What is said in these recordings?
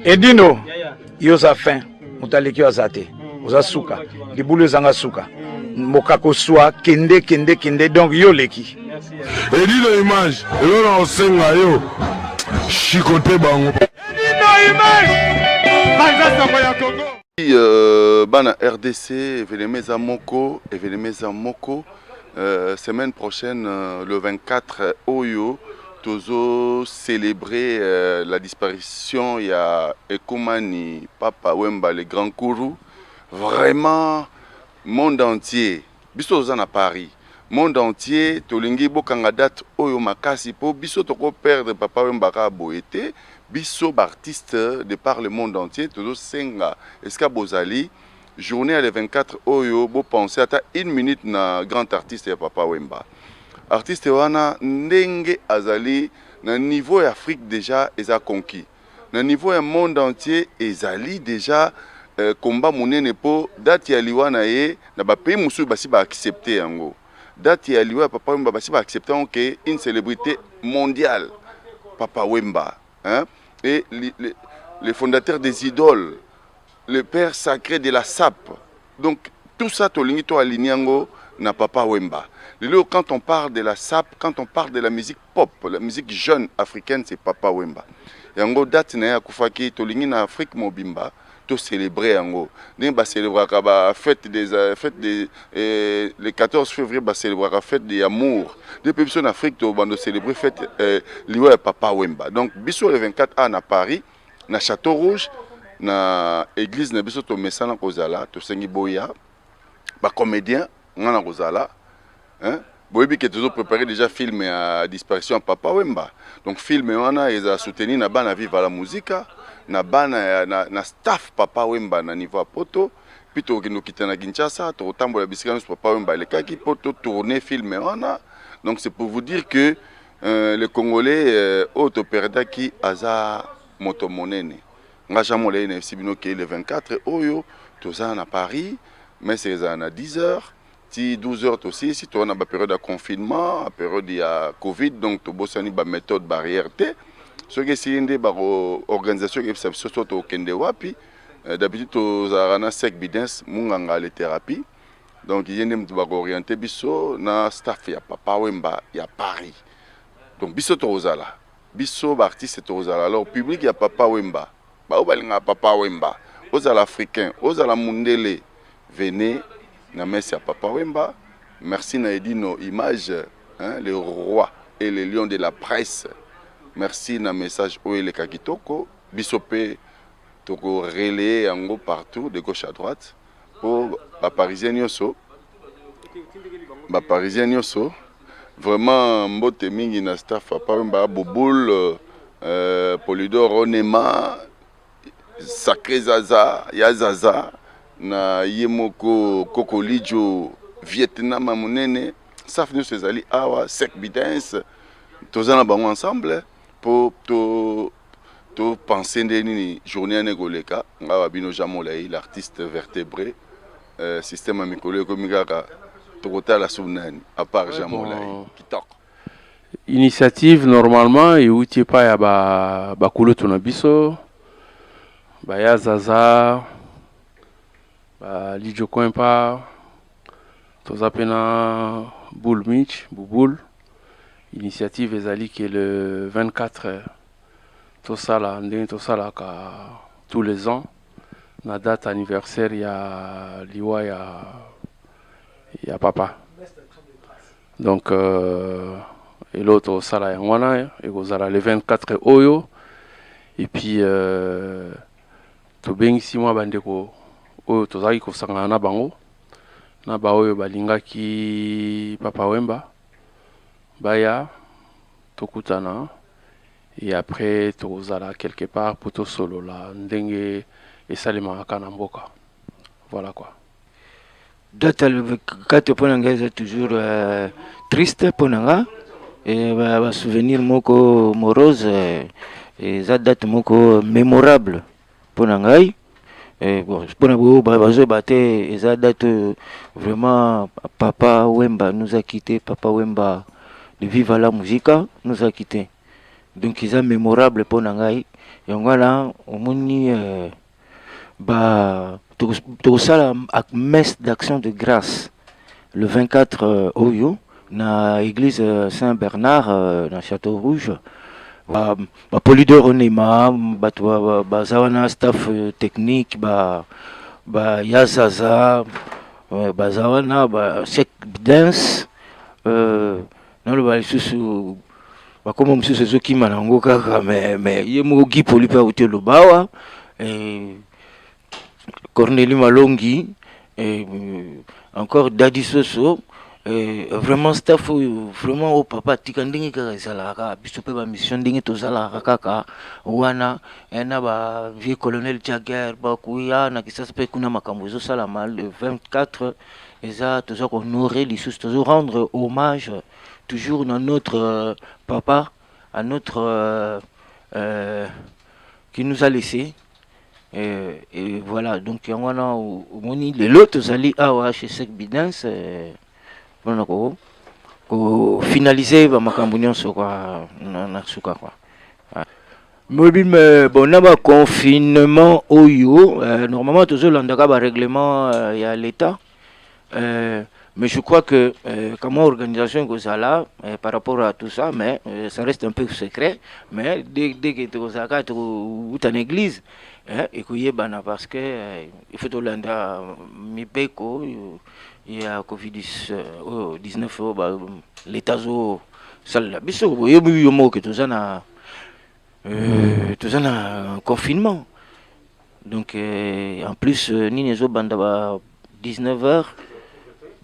Edino, yo oza fin, moto aleki yo aza te, oza suka, libulu ezanga suka, mokako swa kende kende kende, donc yo oleki. Edino image, elo na osenga yo, chikote bango. Edino image, banza soko ya Congo. Euh, bana rdc evenema eza moko evenema eza moko euh, semaine prochaine euh, le 24 oyo Tozo celebrer la disparition ya Ekomani Papa Wemba le Grand Kuru. Vraiment monde entier biso toza na Paris monde entier tolingi bokanga date oyo makasi po biso toko perdre Papa Wemba kaka boye te. Biso b'artistes de par le monde entier tozo senga esika bozali. Journee ya le 24 oyo bo penser ata une minute na grand artiste ya papa Wemba. Artiste wana ndenge azali na niveau ya Afrique dejà eza conquis. Na niveau ya monde entier ezali dejà combat munene po date ya liwa na ye na ba pays mosusu basi ba accepter yango. Date ya liwa ya papa Wemba basi ba accepter yango que une celebrite mondiale papa Wemba hein et le fondateur des idoles Le père sacre de la sapp donc tout ça tolingi to aligne yango na papa wemba lelo oyo quand on parle de la sapp quand on parle de la musique pop la musique jeune africaine c'est papa wemba yango date naye akufaki tolingi na afrique mobimba to celebrer yango ndenge ba celebraka ba fete des fete de le 14 fevrier ba celebraka fete de amour nde pe biso na afrique to bando celebrer fete liwa ya papa wemba donc biso le 24 a na paris na chateau rouge na eglise na biso tomesana kozala tosengi boya bacomédien nga na kozala boyebi ke tozo prépare déjà film ya disparition ya papa wemba donc film wana ezala souteni na bana viva la musica na bana ya, na, na staff papa wemba na niveau ya poto mpe tokokende kokita na kinshasa tokotambola bisika nyonso papa wemba alekaki mpo totourne film wana donc c'est pour vous dire que Le congolais oyo to perdaki aza moto monene nga jean molai na yebisi bino ke le 24 oyo toza na paris mese ezala na 10 heures ti 12 heures tosilisi toza na baperiode ya confinement aperiode ya covid donc tobosani baméthode barrière te soki esili nde baorganisation eyebisa biso so tokende wapi d'habitude tozalaka na sec bidens munganga letherapie Donc ye nde mutu ba ko orienter biso na staff ya papa wemba ya paris donc biso toko zala biso ba artistes toko zala alors public ya papa wemba ba oyo ba lingaka papa wemba ozala africain ozala mundele venez na messe ya papa wemba merci na edino image hein le roi et le lion de la presse merci na message oyo eleka kitoko biso pe toko relayer yango partout de gauche à droite po ba parisiens nioso ba parisiens nioso vraiment mbote mingi na staff papa wemba bouboul euh, polidor onema sacré zaza ya zaza na ye moko kokolijo vietnam ya monene staff nioso ezali awa sec bidens toza na bango ensemble po to To penser nde nini journee wana ekoleka nga wa bino Jean Molayi l'artiste vertebre euh, système ya mikolo ekomi kaka tokotala sous nani à part Jean Molayi kitoko initiative normalement euti epai ya bakulutu na biso baya zaza ba lidjo coimpa Toza pe na boule mitch bouboule initiative ezali ke le 24 tosala ndenge tosalaka tous les ans na date anniversaire ya liwa ya ya papa donc euh, eloo tosala yango wana ekozala le 24 oyo et puis euh, Tobengisi mwa bandeko oyo tozalaki kosangana na bango na baoyo balingaki Papa Wemba baya tokutana et après tokozala quelque part mpo tosolola ndenge esalemaka na mboka. Voilà quoi. Date ya le 4 mpo na ngai eza toujours euh, triste mpo na nga Eh, ba- ba souvenir moko morose eh, eza date moko mémorable mpo na ngai Eh, bon, mpo na boyo ba- bazoyeba te eza date oyo vraiment papa wemba nous a quitté papa wemba de viva la musica nous a quitté donc eza mémorable mpo na ngai yango wana omoni eh, Ba tokosala messe d'action de grâce le 24 euh, oyo na église euh, Saint Bernard euh, na Château Rouge. Ba, ba polidor onema bato baza ba, ba, wana staff technique ba ba yazaza baza wana ba sec dance euh, naloba lisusu bakoma mosusu ezokima na yango kaka me me ye moko gi poli mpe auti oloba awa corneli malongi encore dadi soso Euh, vraiment staff oyo vraiment oyo papa atika ndenge kaka ezalaka kaka biso mpe bamission ndenge tozalaka kaka wana eh, na ba vieux colonel jagger bakuya na kisasa mpe kuna makambo ezosalama le 24 Eza toza ko honore lisusu tozo rendre hommage toujours na notre papa à notre euh, qui nous a laissé euh, et voilà donc yango wana omoni lelo tozali awa chez Sec Bidens mpona euh, ko ko finaliser ba makambo nyonso kwa na, na suka kwa Moyebi me bon na ba confinement oyo euh, normalement tozolandaka ba règlement euh, ya l'État euh, mais je crois que euh, kama organisation ekozala euh, par rapport à tout ça mais euh, ça reste un peu secret mais dès dès que tokozalaka tokouta na église eh, ekoyebana parce que euh, il faut tolanda mibeko euh, ya covid 19 oyo ba- l'État azosalela biso boyebi yo moko ke toza na Euh, toza na confinement donc euh, en plus euh, nini ezobanda ba 19 heures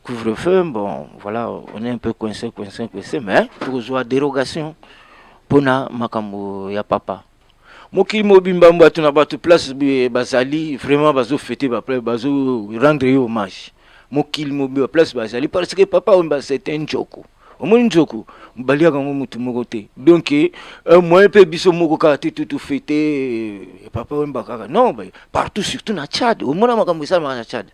couvre-feu bon voilà on est un peu coincé coincé coincé mais tokozwa dérogation mpona makambo ya papa mokili mobimba bato na bato place bazali vraiment bazofete bazo rendre ye hommage mokili mobimba place bazali parce que papa wemba c'est un njoko omoni nzoku baliaka yango motu moko te donc eh, moyen mpe biso moko kaka te tutu fete eh, papa wemba kaka non partout surtout na tchad omona makambo esalamaka na tchad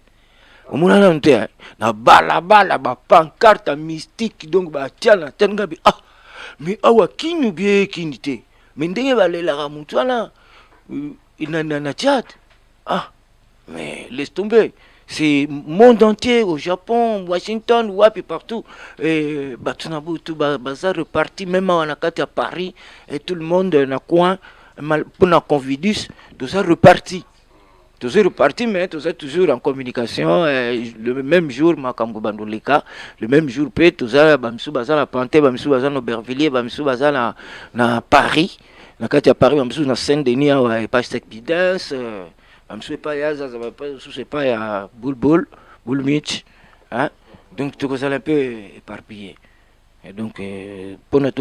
omona nanu te eh? na balabala bapancarte mystique donc batia na tchad ngabi ah mais awa kini obie kini te mais ndenge balelaka motu wana euh, na, na, na tchad Ah mais laisse tomber c'est monde entier au Japon, Washington, wapi partout et bato na butu baza reparti même awa na kati ya Paris et tout le monde na coin mpona convidus toza reparti toza reparti mais toza toujours en communication eh, le même jour makambo bando leka le même jour mpe toza bamisu baza na pante bamisu baza na aubervillier bamisu baza na, na paris na kati ya paris bamosusu na saint denis awa epai stek bidens euh, bamosusu epai ya zaza bamosusu epai ya bulbul bulmich donc tokozala un peu éparpillé donc euh, mpona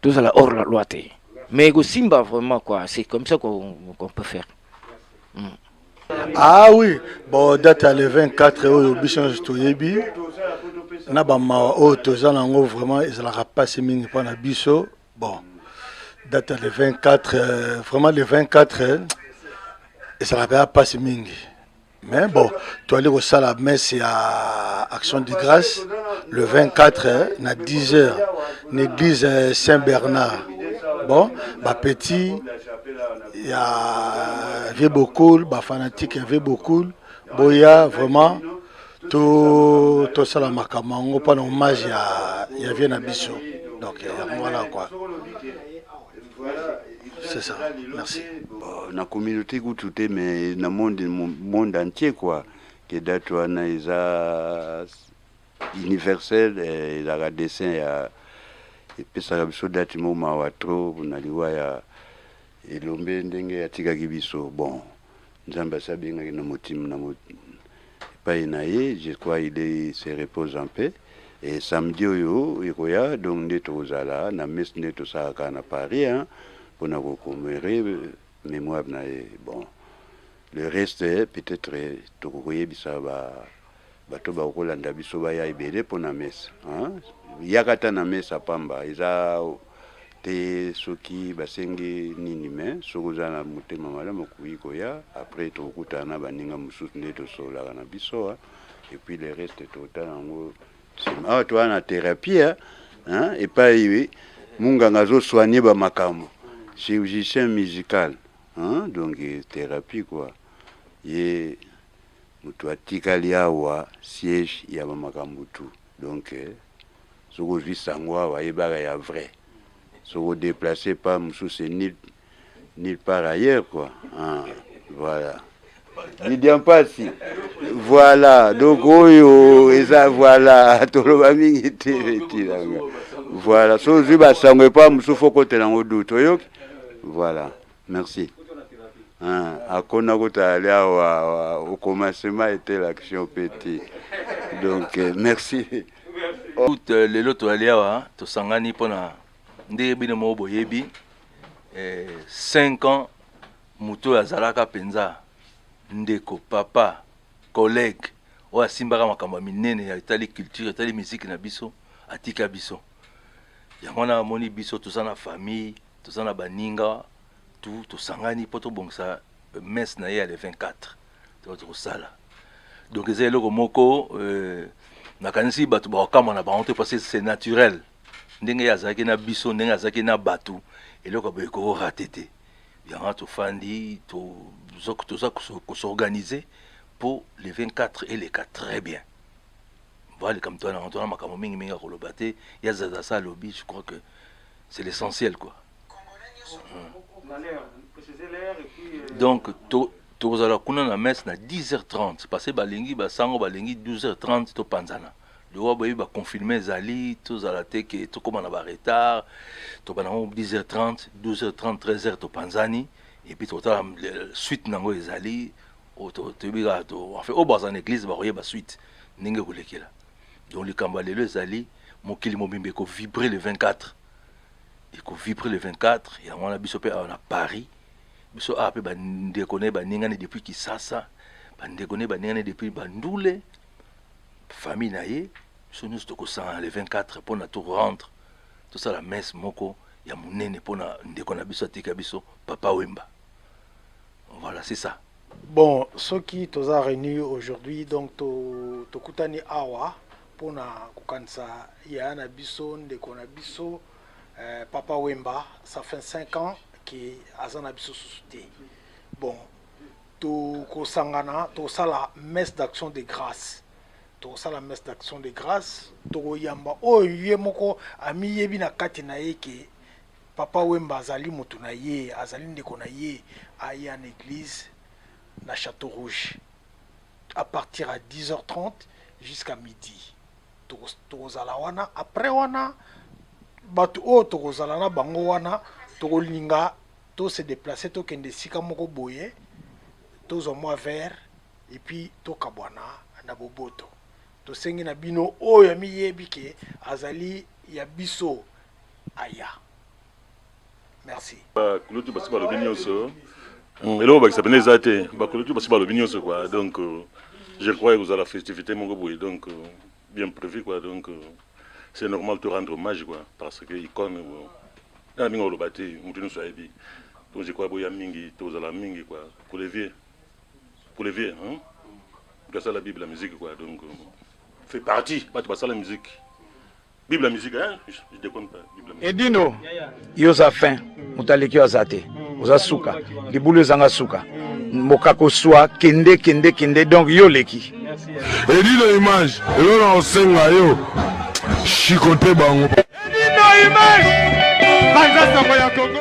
tozala hors la loi te mais ekosimba vraiment quoi c'est comme ça qu'on peut faire mm. Ah oui, bon date ya le 24 oyo biso nyonso toyebi na bamawa oyo toza na yango vraiment ezalaka mpasi mingi mpo na biso bon date ya le 24 euh, vraiment le 24 euh, ezalaka ya mpasi mingi mais bon toali kosala messe ya action de grâce le 24 euh, na 10 heures na église saint bernard bon bapetit ya vie bokul ba fanatique ya vie bokul boya vraiment to tosala makambo yango mpona hommage ya, ya vie na biso donc yango wana quoi c'est ça merci oh, na communauté kutu te mais na monde monde entier quoi que date wana eza Universel ezalaka dessin ya epesaka biso date mo mawa trop na liwa ya elombe ndenge atikaki biso bon nzambe asi abengaki na motim na mot... epai na ye je crois il est se repose en paix et samedi oyo ekoya donc nde tokozala na messe nde tosalaka na paris hein, mpo na kokomere mémoire na ye bon le reste peut-être tokokoyebisa ba Bato ba kolanda biso baya ebele mpo na mesa hein. Yaka ata na mesa pamba eza te soki basengi nini mais soki oza na motema malamu okoki koya après tokokutana na baninga mosusu nde tosololaka na biso hein. Et puis le reste totala yango nsima. Awa toa na therapie hein, epai munganga azo soigner ba makambo chirurgicien musical hein, donc therapie quoi ye Mutu atikali awa siège ya ba makambu tout donc soki ozui sango awa yebaka ya vrai soki o deplace part mususu c'est nul nul part ailleurs quoi hein voilà Vidian Pasi voilà donc oyo eza voilà toloba mingi te etilanga voilà soki ozui ba sango epa mususu faut okotela yango doute oyoki voilà. Merci. Ah, akona kutali awa au commencement était l'action petit. Donc euh, merci. Tout euh, lelo toali awa hein, tosangani pona ndenge bino moko boyebi 5 eh, ans moto oyo azalaka mpenza ndeko papa collègue oyo asimbaka makambo ya minene ya etali culture etali miziki na biso atika biso yango wana amoni biso toza na famille Toza na baninga tout tosangani po tobongisa messe na ye ya le 24 donc tokosala donc eza eloko moko euh, nakanisi bato bakokamwa na bango te parce que c'est naturel ndenge ye azalaki na biso ndenge azalaki na bato eloko ya boye kokorate te yango wana tofandi toza toza koso- kosorganize po le 24 eleka très bien voilà likambo twana yango twana makambo mingi mingi ya koloba te ya zaza sa alobi je crois que c'est l'essentiel quoi donc to tokozala kuna na messe na 10h30 parce que balingi basango balingi 12h30 topanzana liwa boyebi baconfirme ezali tozala te ke tokóma na baretard tobanda yango 10h30 12h30 13h topanzani epuis totala suite na yango ezali toyebi kaka enfin oyo baza na église bakoyeba suite ndenge ekolekela Donc likambo ya lelo ezali mokili mobimba eko vibre le 24 eko vibre le 24 yango wana biso mpe awa na paris biso awa mpe bandeko na ye baningani depuis kisasa bandeko na ye baningani depuis bandule famille na ye biso nyonso tokosangana le 24 mpo na to rendre tosala messe moko ya monene mpo na ndeko na biso atika biso papa wemba Voilà c'est ça. Bon, ceux qui toza réunis aujourd'hui, donc to tokutani awa pona kokanisa yaya na biso ndeko na biso eh, papa Wemba, ça fait 5 ans que aza na biso susu te. Bon, tokosangana tosala messe d'action de grâce tosala messe d'action de grâce tokoyamba oyo ye moko amiyebi na kati na ye ke Papa wemba azali mutu na ye azali ndeko na ye aya na eglise na chateau rouge a partir ya 10 heures 30 jusqu'à midi tokozala wana après wana batu oyo tokozala na bango wana tokolinga to se deplacer tokende esika moko boye tozwa mua verre et puis tokabwana na boboto tosengi na bino oyo amiyebi ke azali ya biso aya merci bakulutu basi balobi nyonso hmm, eloko bakisa pene eza te bakulutu basi balobi nyonso kua donc euh, je crois ekozala festivité moko boye donc euh, bien prévu kua donc euh, c'est normal to rendre hommage kua parce que icone na mingi oloba te motu nyonso ayebi donc je crois boya mingi tozala mingi kua pour les vieux pour les vieux hein? gasala bible la musique kua donc fait partie bato basala musique Bible ya musique hein? Je déconne pas. Bible ya Edino, yo oza fin, moto aleki yo aza te. Oza suka, libulu ezanga suka. Mokako swa kende kende kende donc yo oleki. Edino image, elo na osenga yo. Chicote bango. Edino image. Banza soko ya Congo.